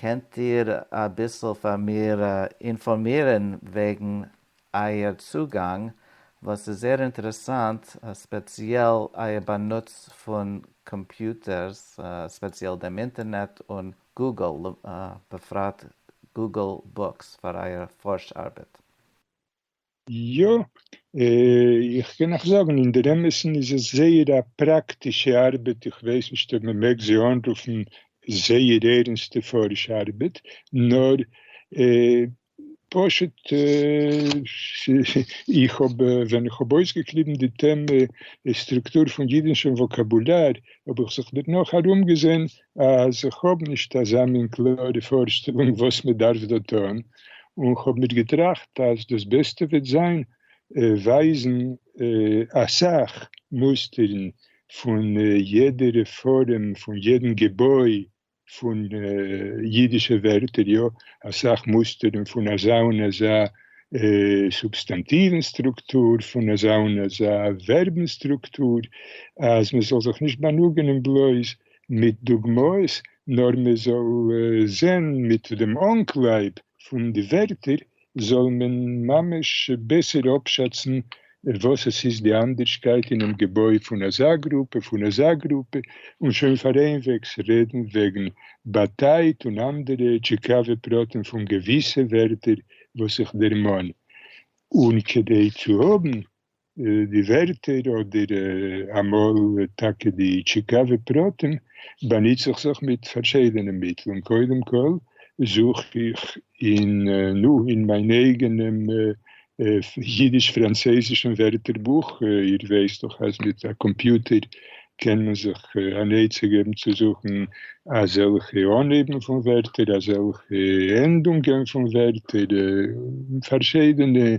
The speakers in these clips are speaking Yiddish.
קענט איר אביסל פאר מיר אינפארמירן וועגן אייער צוגאנג, ווייל ס'איז זייער אינטערעסאנט, ספעציעל אייער באנוץ פון קאמפיוטערס, ספעציעל דעם אינטערנעט און גוגל, בפרט גוגל בוקס פאר אייער פארש ארבעט. יא, איך קען נאך זאגן, אין דער אמת'ן איז עס זייער א פראקטישע ארבעט, איך ווייס נישט אויב מען מעג זי אנרופן זייער ערנסטע פארישע ארבעט, נאר פשוט איך האב, ווען איך האב אויסגעקליבן די טעמע סטרוקטור פון אידישן וואקאבולאר, האב איך זיך דערנאך ארומגעזען אז איך האב נישט אזא מין קלארע פארשטעלונג וואס מען דארף דא טון, און איך האב מיר געטראכט אז דאס בעסטע וועט זיין ווייזן אסאך מוסטערן פון יעדע רעפארעם פון יעדן געבוי פון אידישע ווערטער, יא, אסאך מוסטערן פון אזא און אזא סובסטאנטיוון סטרוקטור, פון אזא און אזא ווערבן סטרוקטור, אז מען זאל זיך נישט באנוגענען בלויז מיט דוגמאות נאר מען זאל זעהן מיט דעם אנקלייב פון די ווערטער זאל מען ממש בעסער אפשאצן וואס עס איז די אנדערשקייט אינעם געבוי פון אזא גרופע פון אזא גרופע און שוין פאר איינוועגס רעדן וועגן באטייט און אנדערע טשיקאווע פרטים פון געוויסע ווערטער וואס איך דערמאן און כדי צו האבן די ווערטער אדער אמאל טאקע די טשיקאווע פרטים באנוץ איך זיך מיט פארשידענע מיטלען, קודם כל זוך איך אין נו אין מיין אייגענעם אידיש פראנצויזישן ווערטער בוך, איר ווייסט דאך אז מיט א קאמפיוטער קען מען זיך אן עצה געבן צו זוכן אזעלכע אנהייבן פון ווערטער, אזעלכע ענדונגען פון ווערטער, פארשידענע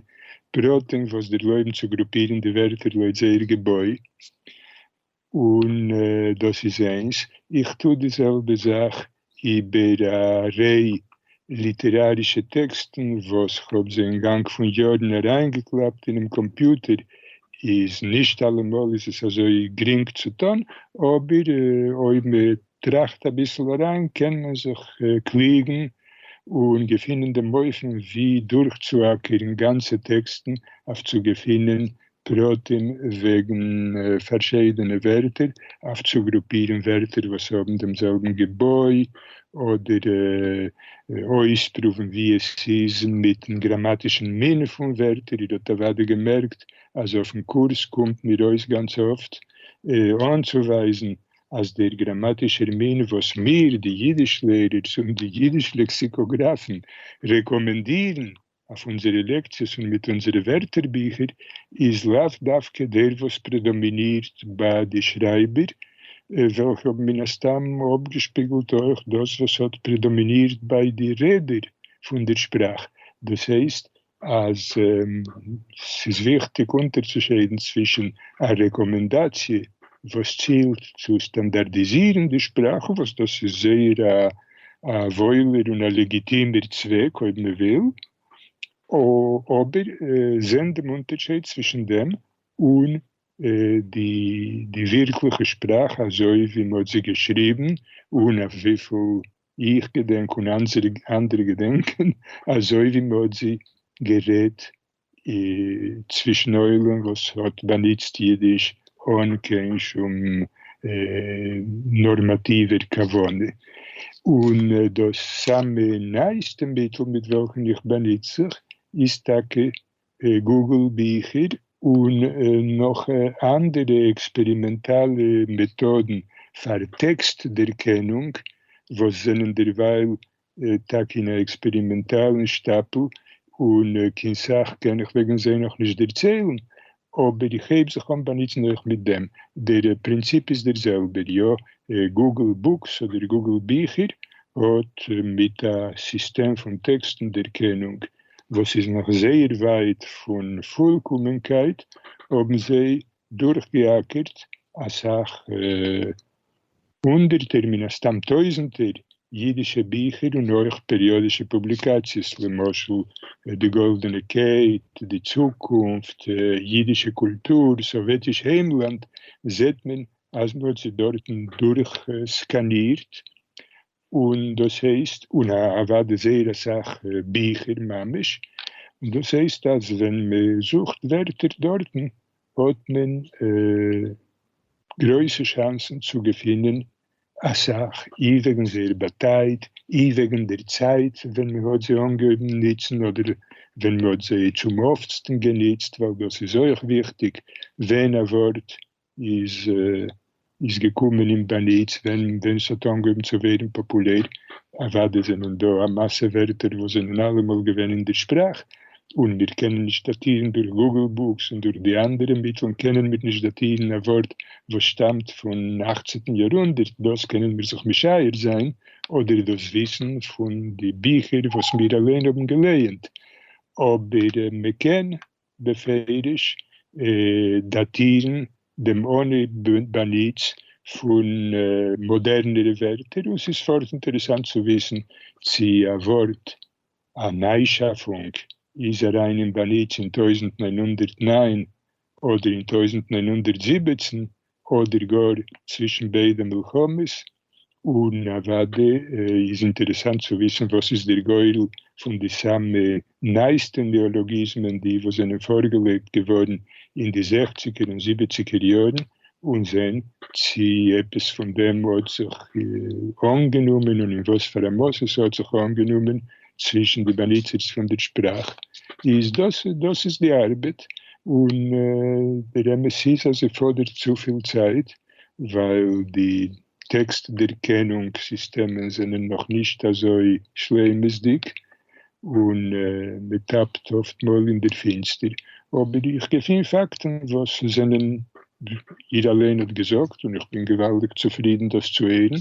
פּרטים וואָס דערלויבן צו גרופּירן די ווערטער לויט זייער געבוי, און דאָס איז איינס. איך טו די זעלבע זאַך איבער אַ ריי ליטעראַרישע טעקסטן וואָס כ'האָב זיי אין גאַנג פון יאָרן אַריינגעקלאַפּט אינעם קאָמפּיוטער. איז נישט אַלעמאָל איז עס אַזוי גרינג צו טאָן, אָבער אויב מ'טוט טראכט אביסל אריין, קען מען זיך קליגן און געפינען דעם אופן ווי דורכצוהאקערן גאנצע טעקסטן אויף צו געפינען פרטים וועגן פארשידענע ווערטער, אויף צו גרופירן ווערטער וואס האבן דעם זעלבן געבוי, אדער אויספרואוון ווי עס איז מיטן גראמאטישן מין פון ווערטער. איר האט אוודאי געמערקט אז אויפן קורס קומט מיר אויס גאנץ אפט אנצוווייזן אז דער גראמאטישער מין וואס מיר, די יידיש-לערערס און די יידיש-לעקסיקאגראפן, רעקאמענדירן אויף אונזערע לעקציעס און מיט אונזערע ווערטערביכער, איז לאו דווקא דער וואס פרעדאמינירט ביי די שרייבער, וועלכע האבן מן הסתם אפגעשפיגלט אויך דאס וואס האט פרעדאמינירט ביי די רעדער פון דער שפראך, דאס הייסט, אז ס'איז וויכטיג אונטערצושיידן צווישן א רעקאמענדאציע וואס צילט צו סטאנדארדיזירן די שפראך, וואס דאס איז זייער א וואוילער און א לעגיטימער צוועק אויב מ'וויל, אבער זען דעם אונטערשייד צווישן דעם און די ווירקליכע שפראך אזוי ווי מ'האט זי געשריבן און אויף וויפיל איך געדענק און אנדערע געדענקען אזוי ווי מען האט זיך גערעדט צווישן עולם וואס האט באנוצט אידיש אן קיין שום נארמאטיווער כוונה. און דאס סאמע נייעסטע מיטל מיט וועלכן איך באנוץ זיך איז טאקע גוגל ביכער און נאך אנדערע עקספערימענטאלע מעטאדן פאר טעקסט דערקענונג וואס זענען דערווייל טאקע אין א עקספערימענטאלן שטאפל און קיין סאך קען איך וועגן זיי נאכנישט דערציילן אבער איך הייב זיך אן באנוצן אויך מיט דעם, דער פרינציפ איז דער זעלבער יא, גוגל בוקס אדער גוגל ביכער האט מיט א סיסטעם פון טעקסטן דערקענונג, וואס איז נאך זייער ווייט פון פולקאמענקייט, האבן זיי דורכגעאקערט אסאך הונדערטער, מן הסתם טויזנטער, אידישע ביכער און אויך פעריאדישע פובליקאציעס, למשל די גאלדענע קעט, די צוקונפט, אידישע קולטור, סאוועטיש היימלאנד, זעט מען אז מען האט זיי דארטן דורכסקאנירט און דאס הייסט, און אוודאי זייער אסאך ביכער ממש, און דאס הייסט אז ווען מען זוכט ווערטער דארטן האט מען גרויסע שאנסן צו געפינען אסאך, אי וועגן זייער באטייט, אי וועגן דער צייט ווען מען האט זיי אנגעהויבן נוצן אדער ווען מען האט זיי צום אפטסטן גענוצט, ווייל דאס איז אויך וויכטיג ווען א ווארט איז געקומען אין באנוץ ווען ס'האט אנגעהויבן צו ווערן פאפולער, אוודאי זענען דא א מאסע ווערטער וואס זענען אלעמאל געווען אין די שפראך און מיר קענען נישט דאטירן, דורך גוגל בוקס און דורך די אנדערע מיטלן קענען מיר נישט דאטירן א ווארט וואס שטאמט פון אכצענטן יאר הונדערט, דאס קענען מיר זיך משער זיין אדער דאס וויסן פון די ביכער וואס מיר אליין האבן געלייענט, אבער מ'קען בפירוש דאטירן דעם אנהייב באנוץ פון מאדערנערע ווערטער, און ס'איז פארט אינטערעסאנט צו וויסן צי א ווארט, א ניי-שאפונג, איז אריין אין באנוץ אין טויזנט נײַן הונדערט נײַן אדער אין טויזנט נײַן הונדערט זיבעצן, אדער גאר צווישן ביידע מלחמות, און אוודאי איז אינטערעסאנט צו וויסן וואס איז דער גורל פון די סאמע נייעסטע נעאלאגיזמען די וואס זענען פארגעלייגט געווארן אין די זעכציגער און זיבעציגער יארן, און זען צי עפעס פון דעם האט זיך אנגענומען און אין וואס פאר א מאס עס האט זיך אנגענומען צווישן די באנוצערס פון דער שפראך, איז דאס דאס איז די ארבעט, און דער אמת איז אז זי פאדערט צופיל צייט, ווייל די טעקסט דערקענונג סיסטעמען זענען נאך נישט אזוי שלימות'דיג, און מען טאפט אפט מאל אין דער פינסטער. אבער איך געפין פאקטן וואס זענען, איר אליין האט געזאגט, און איך בין געוואלדיג צופרידן דאס צו הערן,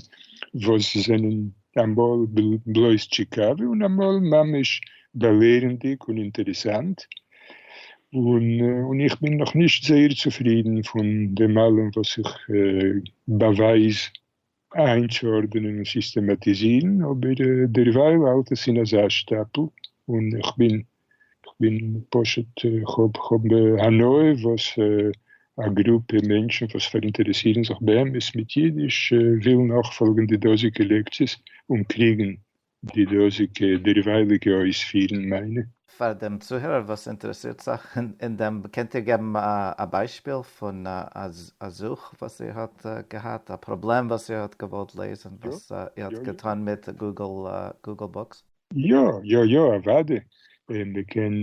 וואס זענען אמאל בלויז טשיקאווע און אמאל ממש באלערנדיג און אינטערעסאנט, און איך בין נאכנישט זייער צופרידן פון דעם אלעם וואס איך באווייז איינצוארדענען און סיסטעמאטיזירן, אבער דערווייל האלט עס אין אזא שטאפל און איך בין כ'בין פשוט, כ'האב כ'האב הנאה וואס א גרופע מענטשן וואס פאראינטערעסירן זיך באמת מיט אידיש ווילן נאכפאלגן די דאזיגע לעקציעס און קריגן די דאזיגע דערווייליגע אויספירן מיינע. פאר דעם צוהערער וואס אינטערעסירט זיך אין דעם, קענט איר געבן א ביישפיל פון א זוך וואס איר האט געהאט, א פראבלעם וואס איר האט געוואלט לעזן וואס איר האט געטון מיט גוגל בוקס? יא יא יא אוואדי און מ'קען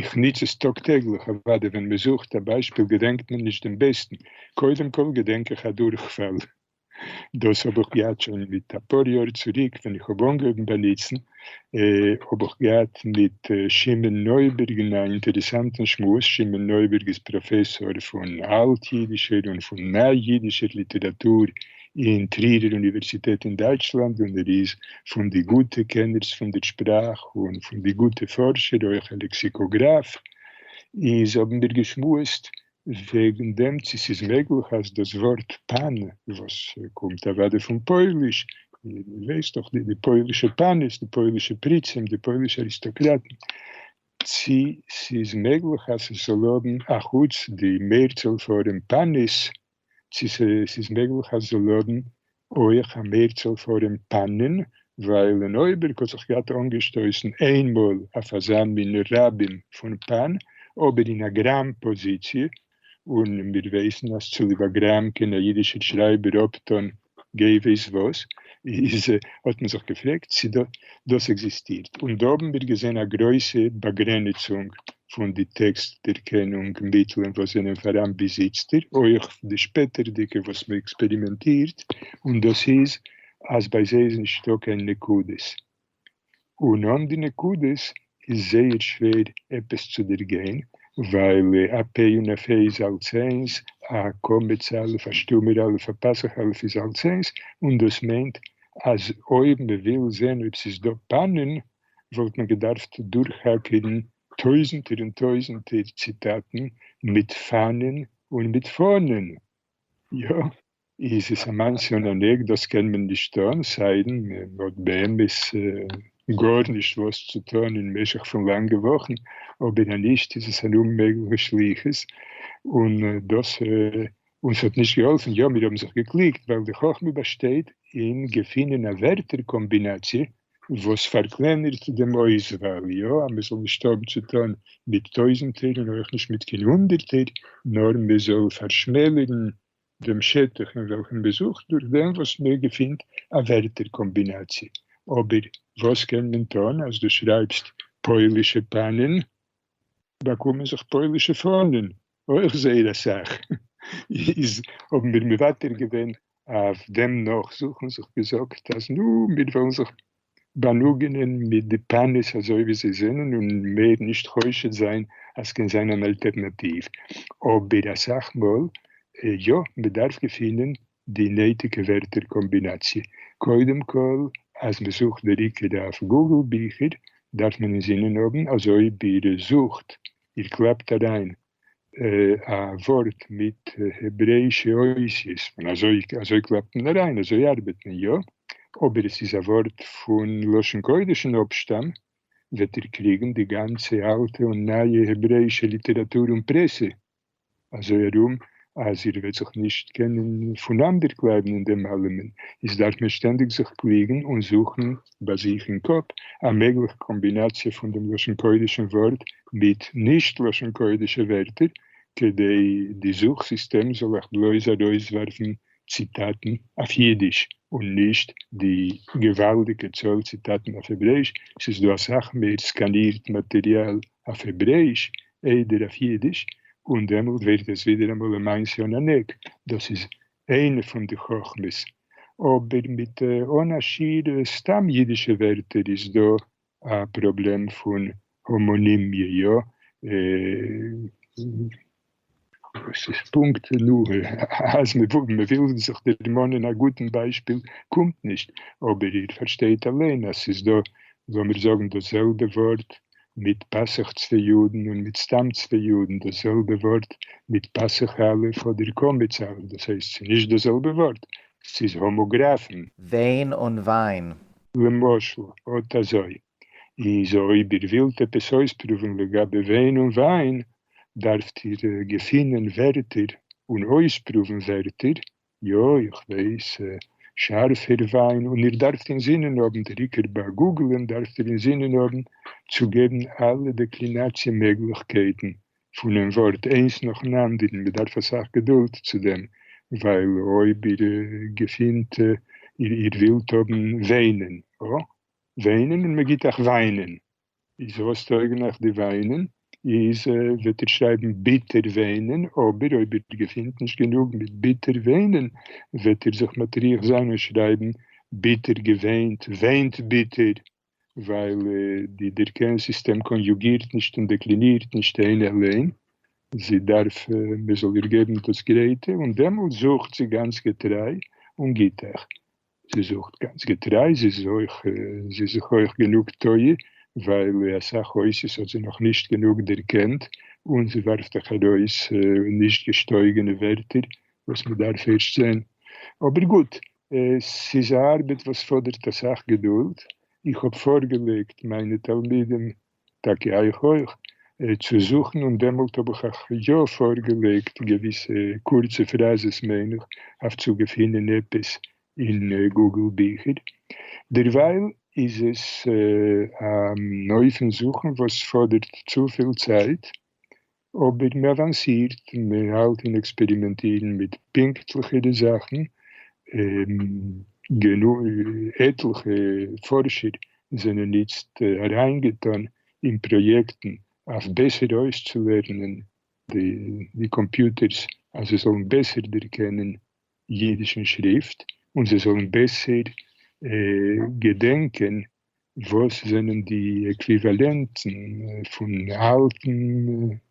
איך ניץ עס טאג טעגליך אוואדי ווען מ'זוכט א ביישפיל געדענקט מען נישט דעם בעסטן קודם כל געדענק איך א דורכפאל דאס האב איך געהאט שוין מיט אפאר יאר צוריק ווען איך האב אנגעהויבן באניצן האב איך געהאט מיט שמעון נויבערג אין א אינטערעסאנטן שמועס שמעון נויבערג איז פראפעסאר פון אלט אידישער און פון ניי אידישער ליטעראטור אין טרירער אוניווערסיטעט אין דייטשלאנד און ער איז פון די גוטע קענערס פון דער שפראך און פון די גוטע פארשער, אויך א לעקסיקאגראף, איז האבן מיר געשמועסט וועגן דעם צי ס'איז מעגליך אז דאס ווארט פאן וואס קומט אוודאי פון פויליש, איר ווייסט דאך די די פוילישע פאניס, די פוילישע פריצים, די פוילישע אריסטאקראטן, צי ס'איז מעגליך אז ס'זאל האבן, אחוץ די מערצאל פארעם פאניס, צו ס'איז מעגליך אז זיי לאדן אויך א מערצאל פארום פאנען, ווייל אין אויבערג האט זיך געהאט אנגעשטויסן איינמאל אויף אזא מין רבים פון פאן, אבער אין א גראם פאזיציע, און מיר ווייסן אז צוליב א גראם קען א אידישער שרייבער אפטאן גיי ווייס וואס, איז האט מען זיך געפרעגט צי דאס עקזיסטירט, און דא האבן מיר געזען א גרויסע באגרעניצונג פון די טעקסט דערקענונג מיטלען וואס זענען פאראן ביז איצטער, אויך די שפעטערדיגע וואס מען עקספערימענטירט, און דאס איז אז ביי זיי איז נישטא קיין נקודות, און אן די נקודות איז זייער שווער עפעס צו דערגיין, ווייל א פ' און א פ' איז אלס איינס, א קמץ א', א שטומער א', א פסח א' איז אלס איינס, און דאס מיינט אז אויב מען וויל זען אויב ס'איז דא פנים, וואלט מען געדארפט דורכאקערן טויזנטער און טויזנטער ציטאטן מיט פנים און מיט פנים. יא. איז עס א מעשה און א ניק, דאס קען מען נישט טון, סיידן מען האט באמת גארנישט וואס צו טון אין משך פון לאנגע וואכן, אבער אז נישט איז עס אן אוממעגליכע שליחות, און דאס אונז האט נישט געהאלפן, יא מיר האבן זיך געקליגט, ווייל די חכמה באשטייט אין געפינען א ווערטער קאמבינאציע וואס פארקלענערט דעם אויסוואל, יא אז מען זאל נישט האבן צו טון מיט טויזנטער און אויך נישט מיט קיין הונדערטער, נאר מען זאל פארשמעלערן דעם שטח אין וועלכן מ'זוכט דורך דעם וואס מ'געפינט א ווערטער קאמבינאציע. אבער וואס קען מען טון אז דו שרייבסט פוילישע פאנען, באקומען זיך פוילישע פאנען אויך זייער אסאך, איז האבן מיר מוותר געווען אויף דעם נאכזוכן זיך געזאגט אז נו מיר וועלן זיך באַלוגענען מיט די פּאַניס אַזױ װי זײ זענען און מער נישט חושד זײַן אַז ס'קען זײַן אַן אַלטערנאַטיװ. אָבער אַ סך מאָל יאָ, מען דאַרף געפֿינען די נײטיקע װערטער-קאָמבינאַציע. קודם כּל, אַז מע זוכט דער עיקר אױף גוגל-ביכער, דאַרף מען אין זינען האָבן אַזױ װי איר זוכט, איר קלאַפּט אַרײַן א ווארט מיט העברעאישע אותיות, און אזוי אזוי קלאפט מען אריין, אזוי ארבעט מען יא, אבער עס איז א ווארט פון לשון קודש און אפשטאם, וועט איר קריגן די גאנצע אלטע און נייע העברעאישע ליטעראטור און פרעסע אזוי ארום, אז איר וועט זיך נישט קענען פונאנדערקלייבן אין דעם אלעמען, איז דארף מען שטענדיג זיך קריגן און זוכן ביי זיך אין קאפ א מעגליכע קאמבינאציע פון דעם לשון קודש'ן ווארט מיט נישט לשון קודש'ע ווערטער, כדי די זוך סיסטעם זאל איך בלויז ארויסווארפן ציטאטן אויף אידיש און נישט די געוואלדיגע צאל ציטאטן אויף העברעיש, ס'איז דא אסאך מער סקאנירט מאטריאל אויף העברעיש איידער אויף אידיש, און דעמאלט ווערט עס ווידעראמאל למעשה אן ענק, דאס איז איינע פון די חכמות, אבער מיט אן א שיעור סתם אידישע ווערטער איז דא א פראבלעם פון האמאנימיע, יא? וואס איז פונקט? נו, אז מ'וויל זיך דערמאנען א גוטן ביישפיל קומט נישט, אבער איר פארשטייט אליין אז ס'איז דא, לאמיר זאגן, דאס זעלבע ווארט מיט פסח צוויי יודן און מיט סתם צוויי יודן דאס זעלבע ווארט מיט פסח א' אדער קמץ א' דאס הייסט ס'איז נישט דאס זעלבע ווארט ס'איז האמאגראפן. וועין און וויין. למשל, אט אזוי. איז אויב איר ווילט עפעס אויספרואוון לגבי וועין און וויין, דארפט איר געפינען ווערטער און אויספרואוון ווערטער יא איך ווייס, שארף איר וויין און איר דארפט אינזינען האבן, דער עיקר ביי גוגלען דארפט איר אינזינען האבן צו געבן אלע דעקלינאציע מעגליכקייטן פונעם ווארט איינס נאכן אנדערן, מען דארף אסאך געדולד צו דעם, ווייל אויב איר געפינט איר ווילט האבן וויינען, וויינען און מען גיט אייך וויינען, איז וואס טויגן אייך די וויינען? איז וועט איר שרייבן ביטער וויינען, אבער אויב איר געפינט נישט גענוג מיט ביטער וויינען, וועט איר זיך מטריח זיין און שרייבן ביטער געוויינט, וויינט ביטער, ווייל די דערקען סיסטעם קאניוגירט נישט און דעקלינירט נישט איין עליין, זי דארף מען זאל איר געבן דאס גרייטע, און דעמאלט זוכט זי גאנץ געטריי און גיט אייך זי זוכט גאנץ געטריי, זי איז אויך זי איז זיך אויך גענוג טועה, ווייל אסאך אויסעס האט זי נאך נישט גענוג דערקענט, און זי ווארפט אויך ארויס נישט געשטויגענע ווערטער וואס מען דארף ערשט זען. אבער גוט, ס'איז א ארבעט וואס פאדערט אסאך געדולד, איך האב פארגעלייגט מיינע תלמידים טאקע אייך אויך, צו זוכן און דעמאלט האב איך אייך יא פארגעלייגט געוויסע קורצע פראזעס מיין איך אויף צו געפינען עפעס אין גוגל ביכער. דערווייל איז עס אן אופן זוכן וואס פאדערט צופיל צייט אבער מען אוואנסירט און מען האלט און עקספערימענטירן מיט פונקטליכע די זאכן, עטליכע פארשער זענען איצט אריינגעטון אין פראיעקטן אויף בעסער אויסצולערנען די קאמפיוטערס אז זיי זאלן בעסער דערקענען אידישן שריפט און זיי זאלן בעסער געדענקען וואס זענען די עקוויוועלענטן פון אלטן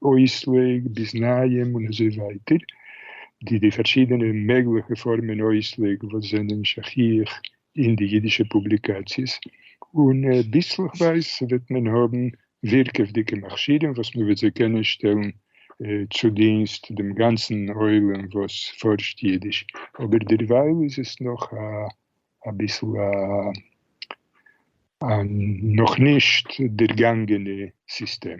אויסלייג ביז נייעם און אזוי ווייטער, די די פארשידענע מעגליכע פארמען אויסלייג וואס זענען שכיח אין די אידישע פובליקאציעס, און ביסלעכווייז וועט מען האבן ווירקעוודיגע מכשירים וואס מען וועט זיי קענען שטעלן צו דינסט דעם גאנצן עולם וואס פארשט אידיש, אבער דערווייל איז עס נאך א אביסל א נאכנישט דערגאנגענע סיסטעם.